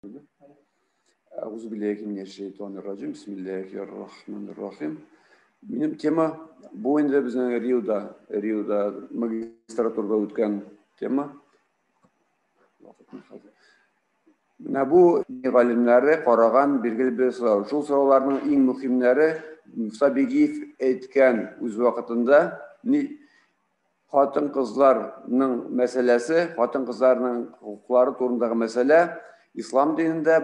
Әгүзу билләхи минәш шәйтан раҗим. Бисмиллахир рахманир рахим. Минем тема бу инде безнең Риода, Риода магистратурада үткән тема. Менә бу галимнәре караган билгеле бер сорау. Шул сорауларның иң мөһимнәре Муса Бигиев әйткән үз вакытында Хатын кызларның мәсьәләсе, хатын кызларның хокуклары турындагы мәсьәлә ислам динендә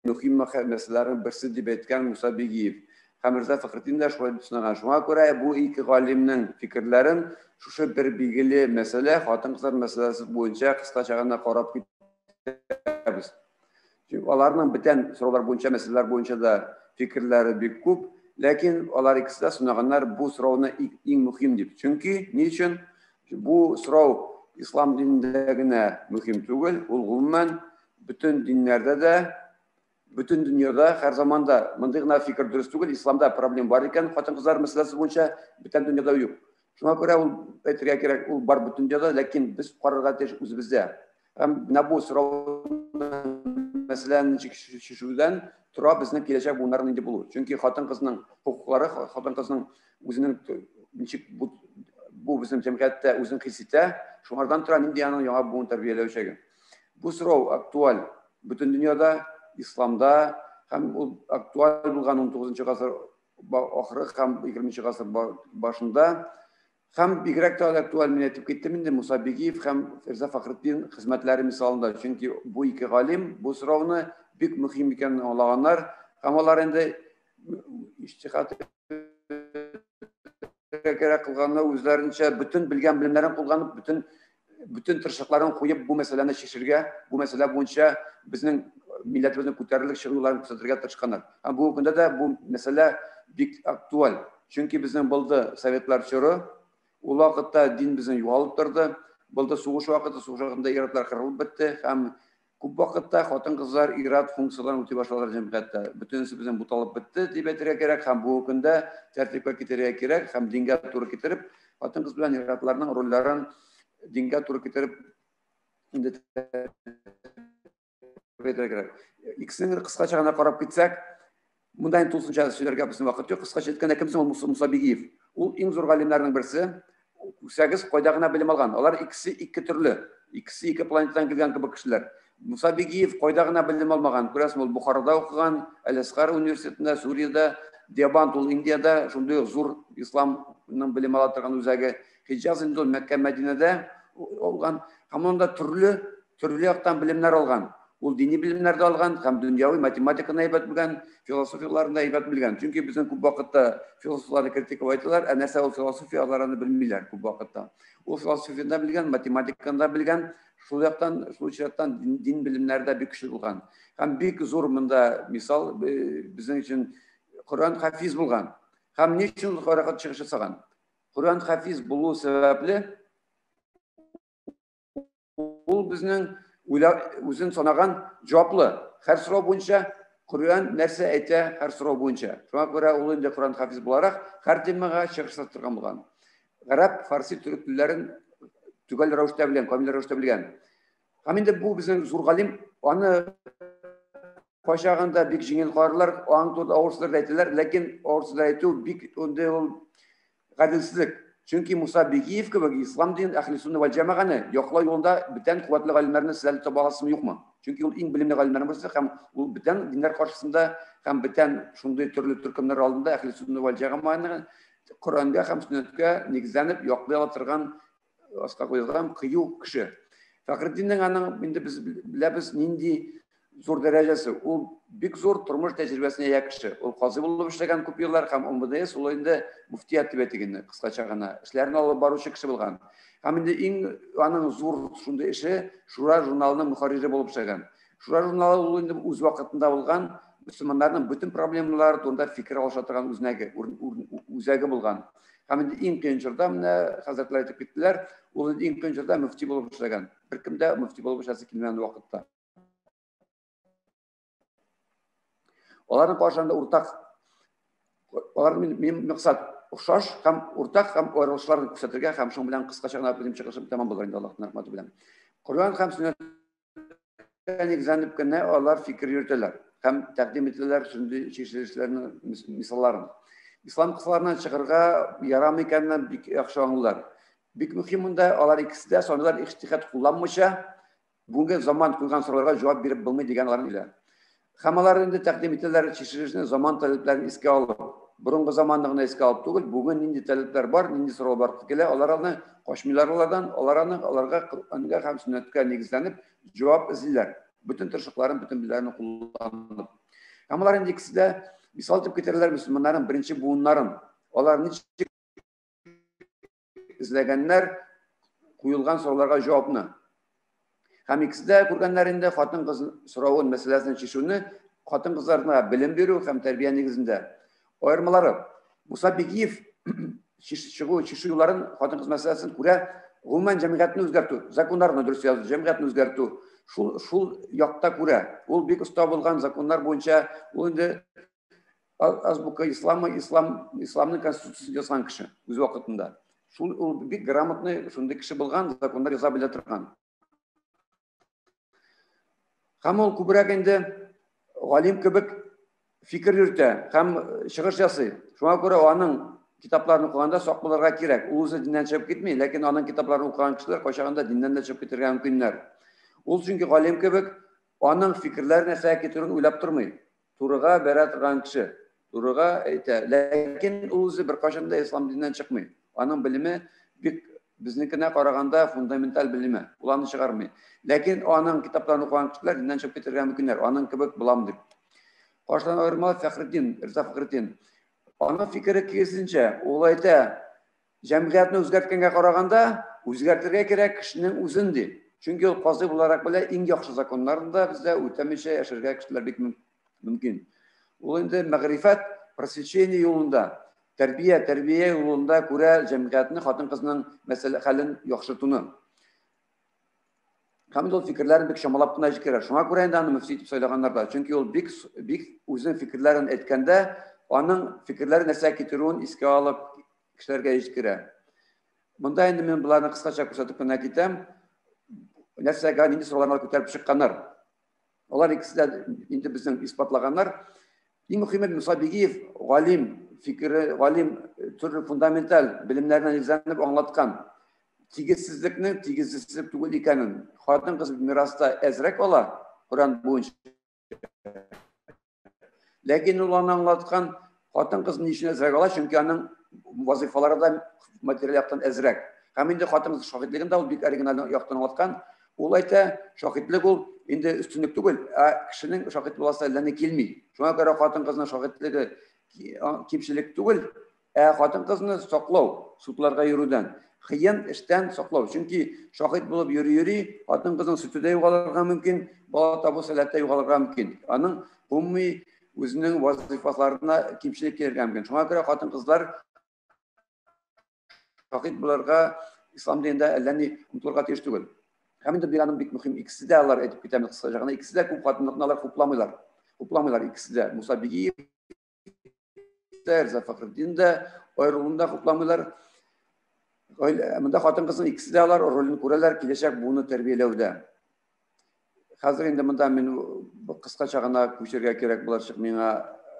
мөһим мәсьәләләрнең берсе дип әйткән Муса Бигиев. Хәмирза Фәхретдин дә шулай дип сынаган. Шуңа күрә бу ике галимнең фикерләрен шушы бер билгеле мәсьәлә, хатын-кызлар мәсьәләсе буенча кыскача гына карап китәбез. Чөнки аларның бүтән сораулар буенча, мәсьәләләр буенча да фикерләре бик күп, ләкин алар икесе дә сынаганнар бу сорауны иң мөһим дип. Чөнки ни өчен? Бу сорау ислам динендә генә мөһим түгел, ул гомумән бөтен диннәрдә дә, бөтен дөньяда һәр заманда мондый гына фикер дөрес түгел, исламда проблем бар икән, хатын-кызлар мәсьәләсе буенча бүтән дөньяда юк. Шуңа күрә ул әйтергә кирәк, ул бар бөтен дөньяда, ләкин без карарга тиеш үзебездә. Һәм менә бу сорау мәсьәләне чишүдән тора безнең киләчәк буыннарның инде булу. Чөнки хатын-кызның хокуклары, хатын-кызның үзенең ничек бу, бу безнең җәмгыятьтә үзен хис итә, шуңардан тора нинди аның яңа буын тәрбияләячәге. Бу сорау актуаль бөтен дөньяда, исламда һәм ул актуаль булган 19 гасыр ахыры һәм 20 гасыр башында Һәм бигрәк тә актуаль мин әйтеп киттем инде Муса Бигиев һәм Фирза Фахретдин хезмәтләре мисалында, чөнки бу ике галим бу сорауны бик мөһим икәнен аңлаганнар һәм алар инде иҗтихат кирәк кылганнар, үзләренчә бөтен белгән белемнәрен кулланып, бөтен бөтен тырышлыкларын куеп бу мәсьәләне чишергә, бу мәсьәлә буенча безнең милләтебезнең күтәрелеп чыгуларын күрсәтергә тырышканнар. Һәм бүгенге көндә дә бу мәсьәлә бик актуаль. Чөнки безнең булды советлар чоры, ул вакытта дин безнең югалып торды, булды сугыш вакыты, сугыш вакытында ир-атлар кырылып бетте һәм Күп вакытта хатын-кызлар ир-ат функцияләрен үти башладылар җәмгыятьтә. Бөтенесе безнең буталып бетте, дип әйтергә кирәк һәм бүгенге көндә тәртипкә китерергә кирәк һәм дингә туры китереп, хатын-кыз белән ир-атларның рольләрен дингә туры китереп инде тәртипкә китерергә кирәк. Икесенең кыскача гына карап китсәк, Монда инде тулысынча сөйләргә безнең вакыт юк. Кыскача әйткәндә, кем соң ул Муса Муса Бигиев? Ул иң зур галимнәрнең берсе. Күрсәгез, кайда гына белем алган. Алар икесе ике төрле. Икесе ике планетадан килгән кебек кешеләр. Муса Бигиев кайда гына белем алмаган. Күрәсең, ул Бухарада укыган, Әл-Әсгар университетында, Сүриядә, Дебант ул Индиядә, шундый ук зур исламның белем ала торган үзәге. Хиҗаз инде ул Мәккә-Мәдинәдә алган. Һәм анда төрле төрле яктан белемнәр алган. Ул дини белемнәр дә алган һәм дөньяви математиканы әйбәт белгән, философияләрен дә әйбәт белгән. Чөнки безнең күп вакытта философларны критиковать итәләр, ә нәрсә ул философия, алар аны белмиләр күп вакытта. Ул философияны да белгән, математиканы да белгән, шул яктан, шул очрактан дин белемнәре дә бик көчле булган. Һәм бик зур монда мисал э, безнең өчен Коръән хафиз булган. Һәм ни өчен ул каракат чыгыш ясаган? Коръән хафиз булу сәбәпле Ул безнең үзен санаган җаваплы. Һәр сорау буенча Коръән нәрсә әйтә, һәр сорау буенча. Шуңа күрә ул инде Коръән хафиз буларак, һәр темага чыгыш ясатырга булган. Гарәп, фарси, төрек телләрен төгәл рәвештә белгән, камил рәвештә белгән. Һәм инде бу безнең зур галим, аны Кайчагында бик җиңел карарлар, аң турында авыр сүзләр әйтәләр, ләкин авыр сүзләр әйтү бик андый ул гаделсезлек. Чөнки Муса Бигиев кебек ислам динен, әхли сунна вәл җәмәгане яклау юлында бүтән куәтле галимнәрне сез әле таба аласызмы, юкмы? Чөнки ул иң белемле галимнәрнең берсе һәм ул бүтән диннәр каршысында һәм бүтән шундый төрле төркемнәр алдында әхли сунна вәл җәмәганы Коръәнгә һәм сөннәткә нигезләнеп яклый ала торган аска куелган кыю кеше фәхретдиннең аның инде без беләбез нинди зур дәрәҗәсе ул бик зур тормыш тәҗрибәсенә ия кеше ул казый булып эшләгән күп еллар һәм омбдс ул инде мөфтият дип әйтик инде кыскача гына эшләрен алып баручы кеше булган һәм инде иң аның зур шундый эше шура журналының мөхәррире булып эшләгән Шура журналы ул инде үз вакытында булган мөселманнарның бөтен проблемалары турында фикер алыша торган үзнәге, үзәге булган. Һәм инде иң кыен чорда менә хәзрәтләр әйтеп киттеләр, ул инде иң кыен чорда мөфти булып эшләгән. Беркем дә мөфти булып эшләсе килмәгән вакытта. Аларның каршында уртак алар минем максат охшаш һәм уртак һәм аерылышларын күрсәтергә һәм шуның белән кыскача гына минем чыгышым тәмам булыр инде Аллаһның рәхмәте белән. Коръән һәм сөннәт нигезләнеп кенә алар фикер йөртәләр һәм тәкъдим ителәләр шундый чишелешләрнең мисалларын. Ислам кысаларына чыгырга ярамый икәнен бик яхшы аңлыйлар. Бик мөһим монда алар икесе дә санлар ихтихат кулланмыйча, бүгенге заман куйган сорауларга җавап биреп булмый дигән аларның илә. Һәм алар инде тәкъдим итәләр чишелешне заман таләпләрен искә алып, борынгы заманны гына искә алып түгел, бүген нинди таләпләр бар, нинди сорау бар килә, алар аны качмыйлар алардан, алар аны аларга Коръәнгә һәм сөннәткә нигезләнеп җавап эзлиләр. Бөтен тырышлыкларын, бөтен биләрен кулланып. Һәм алар инде икесе дә мисал итеп китерәләр мөселманнарның беренче буыннарын. Алар ничек эзләгәннәр куелган сорауларга җавапны. Һәм икесендә күргәннәр инде хатын-кыз соравын, мәсьәләсен чишүне хатын-кызларына белем бирү һәм тәрбия нигезендә. Аермалары. Муса Бигиев чыгу чишү юлларын хатын-кыз мәсьәләсен күрә, гомумән җәмгыятьне үзгәртү, законнарны дөрес язу, җәмгыятьне үзгәртү, шул шул якта күрә. Ул бик оста булган законнар буенча, ул инде азбука ислама ислам исламның конституциясен язган кеше үз вакытында шул ул бик грамотный шундый кеше булган законнар яза белә торган һәм ул күбрәк инде галим кебек фикер йөртә һәм чыгыш ясый шуңа күрә аның китапларын укыганда сак булырга кирәк ул үзе диннән чыгып китми ләкин аның китапларын укыган кешеләр кайчагында диннән дә чыгып китергә мөмкиннәр ул чөнки галим кебек аның фикерләре нәрсәгә китерүен уйлап тормый Турыга бәрә торган кеше. Турыга әйтә. Ләкин ул үзе беркайчан да ислам диненнән чыкмый. Аның белеме бик безнекенә караганда фундаменталь белеме. Ул аны чыгармый. Ләкин аның китапларын укыган кешеләр диннән чыгып китергә мөмкиннәр. Аның кебек булам дип. Каршыдан аерма Фәхретдин, Риза Фәхретдин. Аның фикере киресенчә, ул әйтә, Җәмгыятьне үзгәрткәнгә караганда, үзгәртергә кирәк кешенең үзен, ди. Чөнки ул казый буларак белә, иң яхшы законнарны да бездә үтәмичә яшәргә кешеләр бик мөмкин. Ул инде мәгърифәт, просвещение юлында, тәрбия, тәрбия юлында күрә җәмгыятьне, хатын-кызның мәсьәлә хәлен яхшыртуны. Һәм ул фикерләрен бик чамалап кына җиткерә. Шуңа күрә инде аны мөфти итеп сайлаганнар да. Чөнки ул бик бик үзенең фикерләрен әйткәндә, аның фикерләре нәрсә китерүен искә алып кешеләргә җиткерә. Монда инде мин боларны кыскача күрсәтеп кенә китәм. Нәрсәгә нинди сорауларны күтәреп чыкканнар? Алар икесе дә инде безнең исбатлаганнар. Иң мөхиме Муса Бигиев галим фикере, галим э, төрле фундаменталь белемнәренә нигезләнеп аңлаткан. Тигезсезлекнең тигезсезлек түгел икәнен, хатын-кыз мираста әзрәк ала Коран буенча. Ләкин ул аны аңлаткан хатын-кыз ни өчен әзрәк ала, чөнки аның вазифалары да материаль яктан әзрәк. Һәм инде хатын-кыз шаһитлеген дә ул бик оригиналь яктан аңлаткан. Ул әйтә, шаһитлек ул инде өстенлек түгел, ә кешенең шаһит буласы әллә ни килми. Шуңа күрә хатын-кызның шаһитлеге кимчелек түгел, Ә хатын-кызны саклау, судларга йөрүдән, кыен эштән саклау. Чөнки шаһит булып йөри-йөри, хатын-кызның сөте дә югалырга мөмкин, бала табу сәләте дә югалырга мөмкин. Аның гомуми үзенең вазыйфаларына кимчелек килергә мөмкин. Шуңа күрә хатын-кызлар шаһит булырга ислам динендә әллә ни омтылырга тиеш түгел. Һәм инде бик аның бик мөһим икесе дә алар әйтеп китәм кыскача гына, икесе дә күп хатынлыкны алар хупламыйлар. Хупламыйлар икесе дә. Муса Бигиев Миңнехәйдәр Зафахретдин дә аерылуын да хупламыйлар. Монда хатын-кызның икесе дә алар ролен күрәләр киләчәк буыны тәрбияләүдә. Хәзер инде монда мин кыскача гына күчергә кирәк булачак миңа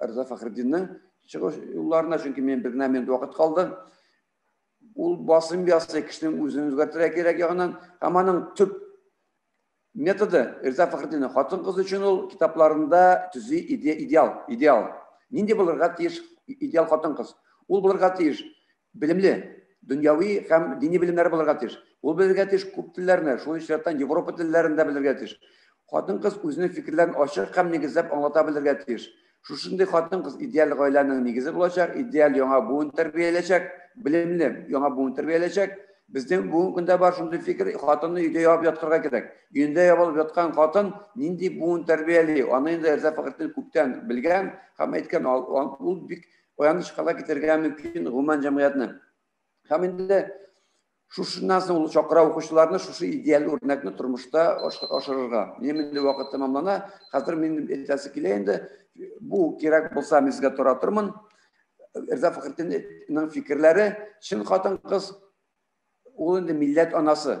Рза Фахретдинның чыгыш юлларына, чөнки мин бер генә минут вакыт калды. Ул басым ясый, кешенең үзен үзгәртергә кирәк ягыннан, һәм аның төп методы Риза Фәхретдинның хатын-кыз өчен ул китапларында төзи идеал, идеал. Нинди булырга тиеш идеал хатын-кыз? Ул булырга тиеш белемле, дөньяви һәм дини белемнәре булырга тиеш. Ул белергә тиеш күп телләрне, шул исәптән Европа телләрен дә белергә тиеш. Хатын-кыз үзенең фикерләрен ачык һәм нигезләп аңлата белергә тиеш. Шушындый хатын-кыз идеаль гаиләнең нигезе булачак, идеаль яңа буын тәрбияләячәк, белемле яңа буын тәрбияләячәк. Безнең бүгенге көндә бар шундый фикер, хатынны өйдә ябып яткырга кирәк. Өендә ябылып яткан хатын нинди буын тәрбияли, аны инде Рәза Фәхретдин күптән белгән һәм әйткән, ул бик аяныч хәлгә китерергә мөмкин гомумән җәмгыятьне. Һәм инде Шушыннан соң ул чакыра укучыларны шушы идеаль үрнәкне тормышта ашырырга. Минем инде вакыт тәмамлана. Хәзер мин әйтәсе килә инде. Бу кирәк булса, мин сезгә тора тормын. Эрза Фәхретдинның фикерләре, чын хатын-кыз, ул инде милләт анасы.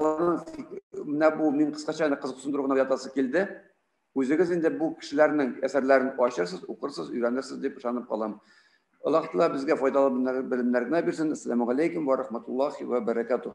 менә бу мин кыскача гына кызык төшендерү гына ятасы килде. Үзегез инде бу кешеләрнең әсәрләрен ачырсыз, укырсыз, өйрәнерсез дип ышанып калам. Аллаһ Тәгалә безгә файдалы белемнәр генә бирсен. Ассаламу алейкум ва рахматуллахи ва баракатух.